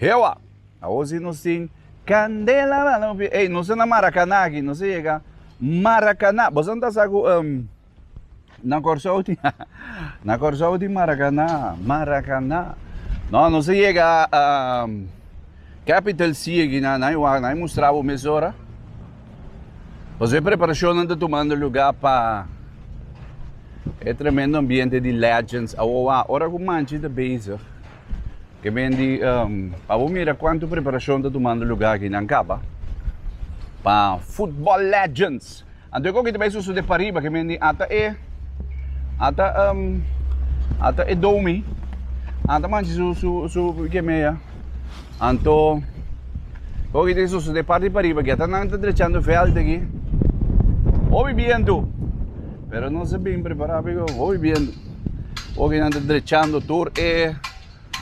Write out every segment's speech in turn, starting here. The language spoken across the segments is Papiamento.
Hewa! Awor si nos tin candela nan lo pia ey nos a na Maracana aki nos a yega Maracana bosonan ta sa cu na Corsou tin na Corsou tin Maracana Maracana no nos a yega capital city nan nan wou nan mustra bo mesora pasobra e preparacionnan ta tumando lugar pa e tremendo ambiente di legends awor wou ora cu manchi ta bezig. ke men di pa bo mira kuantu preparashon ta tumando lugá aki nan Kaba pa Football Legends. Anto kon ki ta bai sosodé pariba ke men di ata e ata ata e domi ata manchi su su su ke meya anto kon ki ta sosodé parti pariba ke ata nan ta drechando veld aki hopi bientu pero nos a bin prepará hopi bientu. Oca nan ta drechando tur e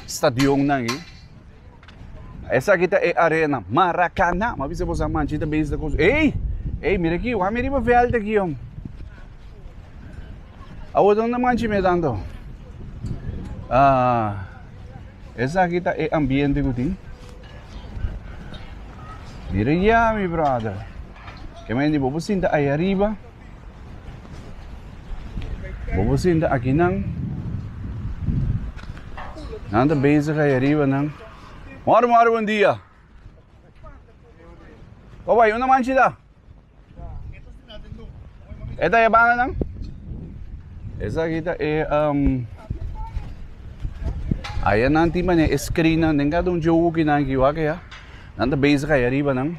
stadionnan ei. Esaki ta e arena, Maracana. Ma bisa bosa manchi ta bezi ta cos. Ey! Ey, mira aquí, wami riba veld aquí, om. Awo donde manchi me tanto. Ah, esaki ta e ambiente cu tin. Mira ya, mi brother. Que me di, bobo sinta ahí arriba. Bobo sinta aki nan. Nan ta bezig ay ariba nan. Mor mor bon dia. Wa wai una manchi da. Eta e bana nan. Esa aquí ta e um Aya nan ti mane e screen nan den ka don joki nan ki wake ya. Nan ta bezig ay ariba nan.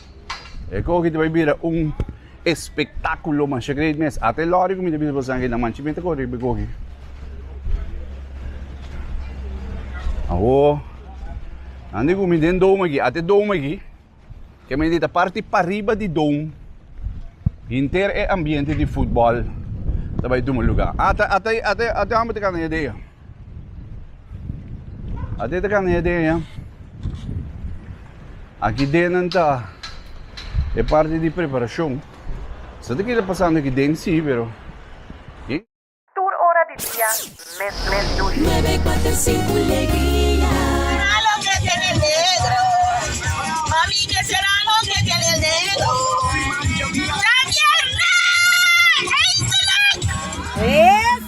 E koki ta bai bira un espektakulo masha great mes. Ate lori ku mi ta bisa pa sangi nan manchi mi ta kore riba e koki. Awo, nan di ku mi den dom aki, ate dom aki, ke mi di ta parti pariba di dom, hinter e ambiente di futbòl ta bai tuma lugar. Ata ata ata ata hombru ta kanta ña idea. Ate ta kane den eya. Aki den nan ta e parti di preparashon. Sa ta keda pasando aki den si, pero ki? Tur ora di dia, mes mes dushi.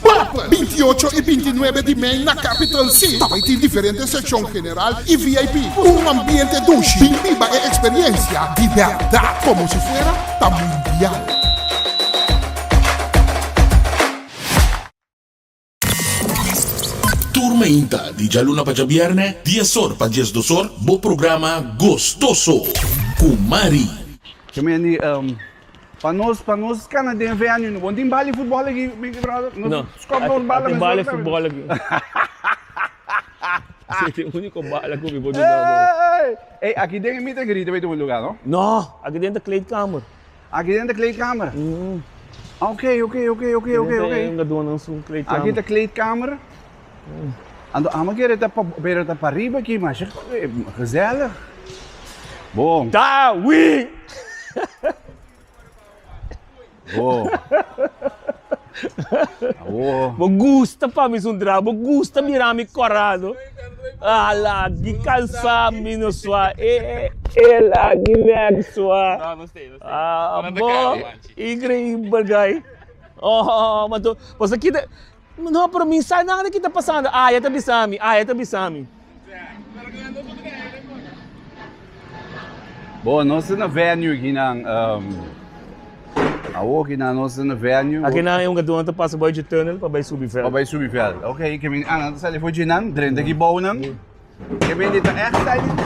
Pap. Bintiocho i bintinuebe di mei na Capital C ta bai tin diferente sekshon general i VIP ku un ambiente dushi. Bin biba e eksperyensia di bèrdat komo si fuera ta mundial. Tur mainta di djaluna pa djabièrnè, dies or pa dies dos or, bo programa Gostoso ku Mari. Yo mi a ni Pa nos pa nos kana den venue no bon tin bal di futbol aki mi brother no no skop dos bal tin bal di futbol aki ese es e unico bal aki mi por duna bo ey aki den e meet and greet ta bay tin un lugar no no aki den ta kleedkamer aki den ta kleedkamer mhm oke oke oke oke oke aki den ta kleedkamer Anto amo kere ta pa bera ta pa riba ki masha gezellig. Bon. Da wi. Bon. Awo. Bo gusta pa mi sun tra, bo gusta mira mi corado. Ala gi cansa mi no swa e ela gi nek swa. Abo increíble guy. Oh, ma tu, bo sa kita No, pero mi sa nada di ki ta pasando. Aya ta bisa mi, Aya ta bisa mi. Bo, nos ta na venue aki nan. Awo aki nan nos ta na venue. Aki nan e un katu nan ta pasa bai dje tunnel pa bai subi veld. Pa bai subi veld. Ok, e camin a nan ta sali for dje nan, drenta aki bou nan. E bende ta echt stylish.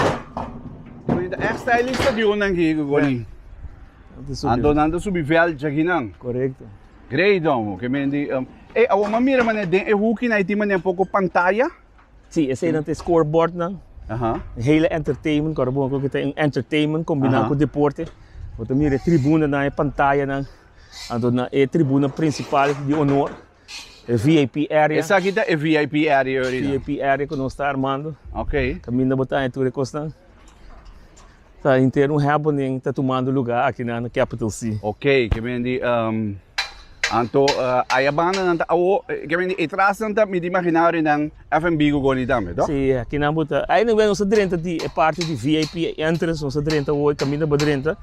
E bende ta echt stylish stadion nan aki, Goni. Anto nan ta subi veld dje aki nan. Corecto. Grei don oke men di um ey awor m'a mira manera den e huki nan e tin manera un poko pantaya. Si, eseinan ta e scorebordnan. Aha. E hele entertainment, kor bo ku ta un entertainment kombina Aha. ku deporte. Bo ta mira e tribunanan, e pantayanan, anto na e tribuna prinsipal di honor, e VIP area, Esaki ta e VIP area ori nan. VIP area ku nos ta armando. Oké. Kaminda bo ta haña tur e kosnan. Ta intero un happening ta tumando lugar aki na na capital si. Ok ke men di ehm anto aya banda nan ta awo ke men di e tras nan ta mi di imaginario nan FNB go goni tambe tok? Si aki nan bo ta anyway nos ta drenta di e parti di vip e entrance nos ta drenta hoy kaminda bo drenta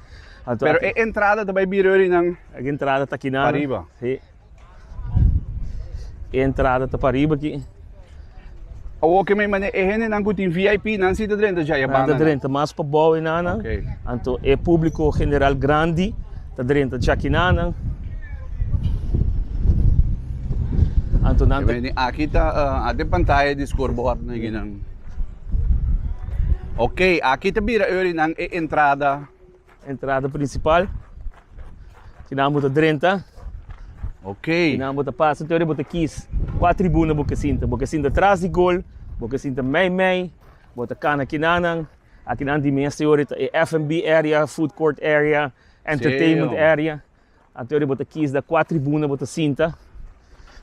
anto aki. Pero e entrada ta bai bira rinan. Entrada ta kinan. Pariba. E entrada ta pariba aki. Awo oke mei mane e hendenan ku tin VIP nan si ta drenta djai e Nan ta bandanan? drenta mas pa bou e nanan. Oke. Anto e públiko general grandi ta drenta dja ki nanan. Anto nan ta Meni aki ta ah, a den pantaya di scoreboard nan aki nan. Oke aki ta bira Eurinan e entrada Entrada principal. Aquí nan bo ta drenta. Ok. Aquí nan bo ta pasa. Teoría bo ta kies. Qua tribuna bo ke sinta. Bo ke sinta tras di gol. Bo ke sinta mei mei. Bo ta cana aquí nan nan. Aquí nan di mes teoría ta e F&B area, food court area, entertainment area. Anto ora bo ta kies da kua tribuna bo ta sinta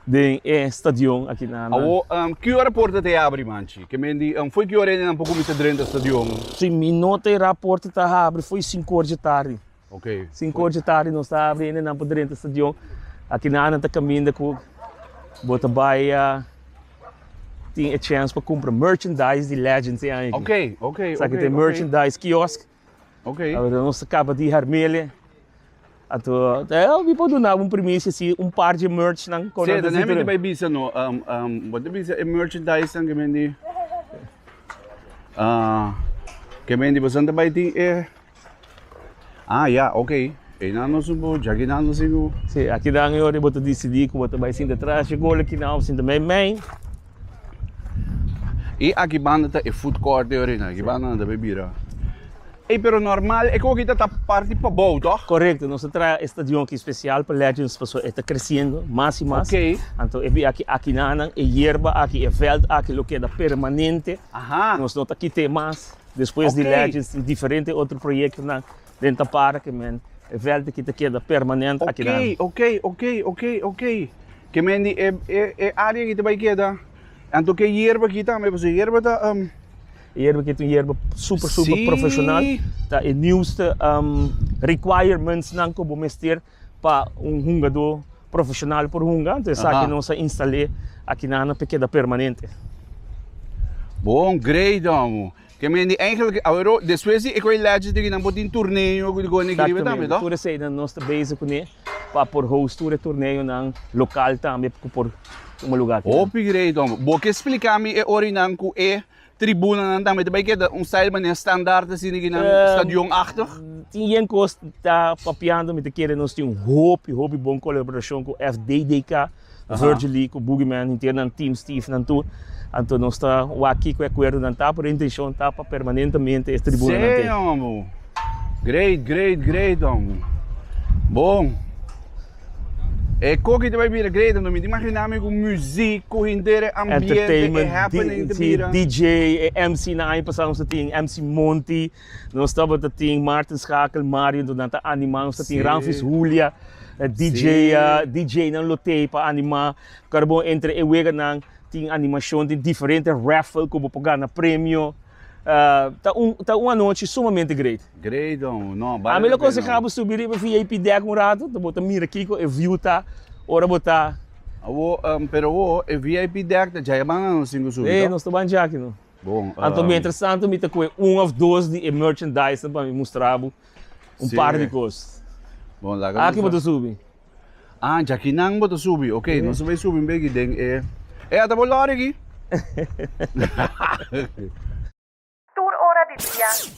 den e stadion aki na. Awo um ki ora porta ta e abri manchi? Ke men di um foi ki ora nan por kuminsa drenta stadion? Si mi nota e ra porta ta habri foi sinku ora dje tardi. Ok. Sinku ora dje tardi nos ta abri ene nan por drenta stadion. Aki na nan ta kaminda ku bo ta bai a tin e chance pa kumpra merchandise di Legends e aña aki. Ok, ok, ok. Sa ki ta e merchandise kiosk. Awe nos ta kaba di hermele. Anto mi por dunabo un primisia si un par dje merch nan kon a desito den. Bai bisa no bo ta bisa e merchandise nan ke men di ke men di boso ta bai tin e a ya ok einan nos un bo jaki nan nos tin bo. Si akinan e ora bo ta disidi ku bo ta bai sinta trashe gol akinan of sinta meimei. E aki banda ta e food court di Orina, aki banda nan ta bay bira. Ey, pero normal, e koki ta ta parti pabou, toch? Correcto, nos a traha e stadion aki special pa Legends pasobra e ta creciendo mas y mas. Okay. Anto e biaha ki aki nannan, e yerba aki, e veld aki lo keda permanente. Aha. Nos no ta kit'e mas. Despues di Legends tin diferente otro proyectonan. Den ta para ke men e vèlt aki ta keda permanent akinan. Oké, oké, oké, oké, oké. Ke men di e, e, e área aki ta bai keda. Anto ke yerba aki tambe, pasobra yerba ta, um, E yerba aki ta un yerba super, super Sí. profesional. Ta e nieuwste um, requirementsnan ku bo mester pa un hungadó profesional por hunga. Anto esaki Aha. nos a instal'é akinan pa keda permanente. Bon, great, amo. Ke men di Angel ke awero despues di e koe lèdje di nan por tin turneo ku di koe neke riba tambe, no? Tur eseinan nos ta bezi kuné pa por host tur e turneonan lokal tambe ku por tuma lugá akí. Hopi great homber. Bo ke spliká mi e orinan ku e tribunanan tambe ta bai keda un style manera standaard así neke nan stadion achtog? Tin yen kos ta papiando mi ta kere nos tin un hopi hopi bon kolaborashon ku FDDK. Virgil Lee ku Boogie Man henter nan Team Steve nan tur. Anto nos ta wak kiko e akuerdo nan ta, pero e intenshon ta pa permanentemente e tribuna nan te. Sey hombre. Great, great, great hombre. Bon. E koki ta bai bira great hombre. Mi ta imaginá mi ku muziek, ku henter, e ambiente, e happening ta bira. Entertainment, DJ, DJ, e MC nan aña pasá nos a tin MC Monty. Nos tabata tin Martin Schakel, Mario do nan ta animá, nos ta tin Sí. Ramfis Julia, eh, DJ, Sí. ah, DJ nan lo tei pa animá. Kara bon entre e weganan tin animashon, tin diferente raffle ku bo por gana premio. Ah, ta un ta un anochi sumamente great. Great don, no, bale Ami lo la pena. konsehá bo subi riba VIP dek un ratu, bo ta mira kiko e view ta ora bo ta Awo, em, pero awo e VIP dek ta djai e ban anostin ku subi, Ei, to? nos ta ban djaki no. Bon, Anto ehm, mientras tanto mi ta coe un of dos di e merchandise pa mi mustra bo un sí. par di cos. Bon, laga Aki boto subi. Ah, jaki nan boto subi. Ok, sí. nos bay subi un begi den e... Eh, eh ata bo lorigi? Tur ora di dia,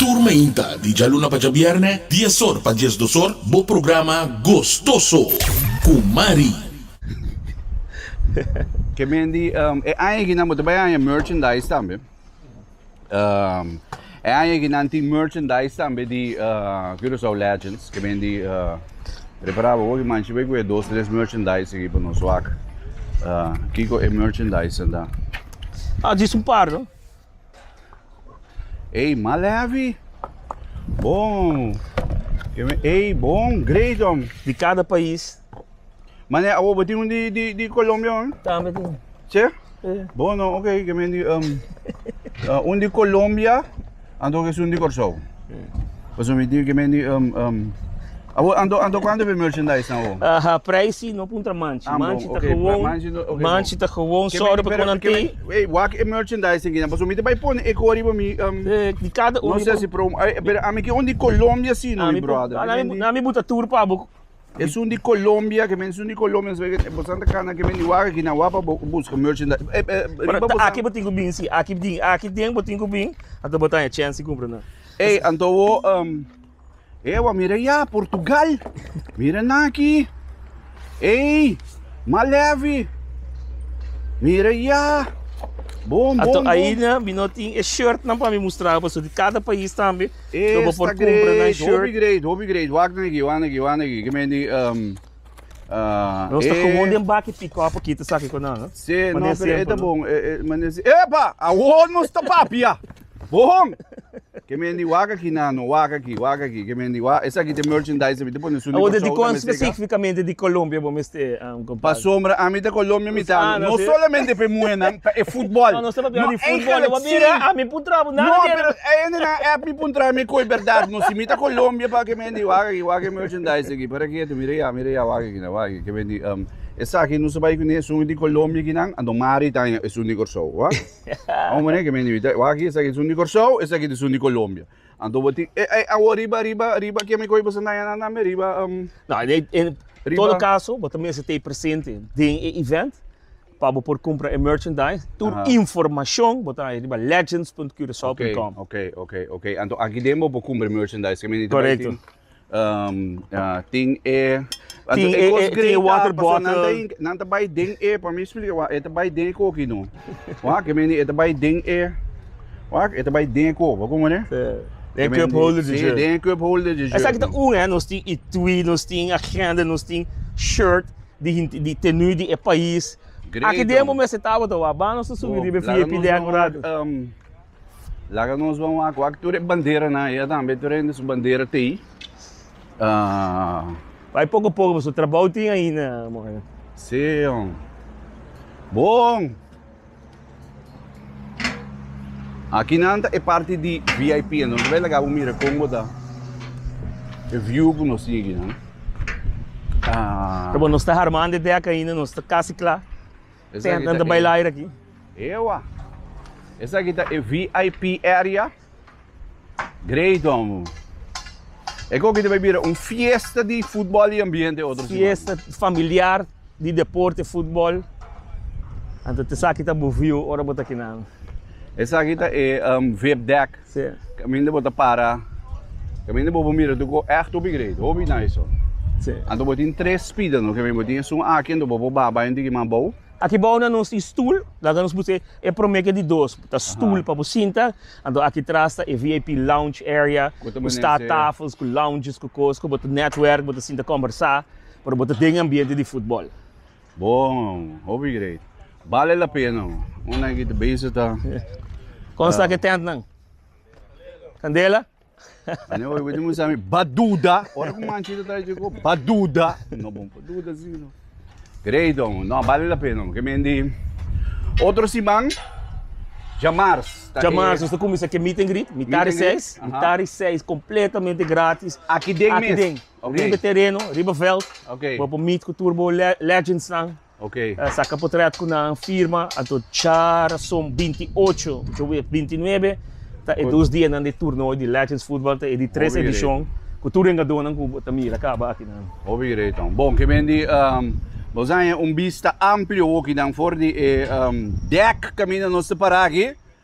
Tur mainta di djaluna pa djabièrnè, dies or pa dies dos or, bo programa Gostoso ku Mari. Ke Mendi, e aña aki nan bo ta bai haña merchandise tambe. E aña aki nan tin merchandise tambe di Curaçao Legends. Ke Mendi prepara bo hopi manchi bai ku e dos tres merchandise aki pa nos wak kiko e merchandisenan ta. Djis un par no. Ey mal heavy. Bon. Ey bon. Great om. Di cada pais. Mane awo bo tin un di di di Colombia man? Tambe tin. Sí? Sí. Bon no, oké, okay, di um, uh, un di Colombia, anto que es un di Corsou. Pasobra mi dibi ke mi ni um um Awor anto anto kuantu be merchandise nan awor? Aha, preisi no puntra manchi. Ah, Manchi bon, ta oké, gewoon. manchi no- oké, manchi bon. ta gewoon. Ke Sorry mi- pasko pero nan ke tin. mi- ey, wak e merchandise tin kina pasobra mi ta bai pone e kor riba mi um Eh, di kada no uni. sé si promo ey pero ami ke un di Colombia si no mi brother. Nan mi buta tur pa bo. Esun di Colombia ke mensun di Colombia nos bay bo san ta kana ke men di wak aki nan wa pa bo buska merchandise e e riba bo ta aki bo tin ku bin si aki di aki den bo tin ku bin anto bo ta haña chènsi kumpra nan. Ey anto bo um ey a wak mira ya Portugal mira nan aki ey malèvi mira ya bon bon bon. Anto aina mi no tin e shirt nan pa mi mustra bo pasobra di kada pais tambe. Esta bo por cumpra nan shirt. Hopi great, hopi great. Wak nan aki, wak nan aki, wak nan aki. Kemey di... Um, uh, Nos ta gewoon den baki pick-up aki te saki konan, no? Se, no, pero eta bon. E, e, mane si, epa! Awor nos ta papia! Bon! Kemey di wak aki nan, no, wak aki, wak aki. Kemey di wak, esaki te merchandise, mi te pone su ni Awor de di kon specificamente di Colombia bo mester, uh? Pasobra ami ta Colombia mi ta habla no solamente pa e muhernan pa e futbol no eigenlijk si no pero e hende nan a app mi por traha mi koe berdad no si mi ta Colombia pakiet mi hende wak aki wak e merchandise aki para kieto mira ya mira ya wak aki nan wak aki kibe di esaki no sa bai kuné esun di Colombia aki nan anto mari ta esun di Kòrsou wak amo poné kibe di wak aki esaki esun di Kòrsou esaki esun di Colombia. Anto bo tin, e, e, awo riba, riba, riba, kia mi koe bo sentá ya nana me riba, um, No, en, e- en Riba. todo caso, bo ta mester te presente den e event pa bo por compra e merchandise. Tur Aha. informacion bo ta hay riba legends.curacao.com. Okay, okay, okay, okay. Anto aki den bo por cumpra merchandise, ke mi ni te bay Correcto. tin. tin e water bottle nan ta bai den e pa mi splika wak e ta bai den e koki no wak ke mende e ta bai den e wak e ta bai den e kop a komo ne den cup holder di shirt si den cup holder di shirt esaki ta un hende nos tin i twi nos tin agenda nos tin shirt di tenu di e pais aki den bo mester tabata wak ba nos ta subi riba e vip den akurado. Laga nos ban wak wak tur e banderanan ei atambe tur hende su bandera ta ei. Bai poko poko boso trabou tin ainda moe. Sí, hom. Bon! Akinan ta e parti di VIP, enton nos bai laga bo mira kon bo ta e view ku nos tin akinan. Ta bon, nos ta harmando e dek ainda, nos ta kasi kla. Ten nan ta baila air aki. Ewa. Esaki ta e VIP area. Great wan bo. E koki ta bai bira un fiesta di futbol y ambiente otro siman. Fiesta familiar di deporte futbol. Anto tesaki ta bo view ora bo ta kinan. Esaki ta e vip deck. Caminda bo ta para, caminda bo bo mira tucu echt hopi great, hopi nice so. Anto bo tin tres spida no, caminda bo tin esun aki anto bo bo baba hende ki mas bou. Aki bou na nos tin stoel, laga nos busca e prome ke di dos, ta stoel pa bo sinta, anto aki tras ta e vip lounge area cu sta tafels cu lounges cu cos cu bo ta netwerk, bo ta sinta combersa, pero bo ta den ambiente di futbol. Bon, hopi great. Bale la pena. Un nan ki ta bense ta. Kon sta ke tent nan? Kandela? Ane oi wete musa mi ba duda. Ora ku manchita ta chiko ba duda. No bon pa duda si no. Great om. No bale la pena. Ke men di otro siman jamars. Jamars nos ta kumisa ke meet and greet. Mitad di seis. Mitad di seis kompletamente gratis. Aki den mes. Oké. Riba e tereno, riba veld, Oké. bo a por meet cu tur bo le- legendsnan, Oké. a saca portret cu nan, firma, anto dja razon binti ocho, yo wet binti nuebe, ta e dos dianan di toernooi di Legends Futbal, ta e di tres Hopi edicion, cu tur engadonnan cu bo ta mira caba akinan. Hopi greton. Bon, ke men di, ehm, nos haña un bista amplio hokinan for di e, ehm, dek caminda nos ta para aki.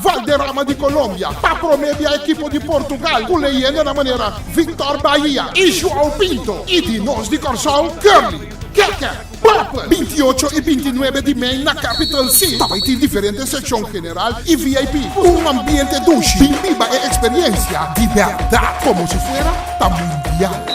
Valderrama di Colombia ta prome bia ekipo di Portugal ku leyendanan manera Victor Bahia i João Pinto i di nos di Kòrsou, Curly, Keke, Purple. Binti ocho i binti nuebe di mei na Capital City tabay tin diferente sekshon general i vip ku un ambiente dushi tin biba e eksperyensia di bèrdat komo si fuera ta mundial.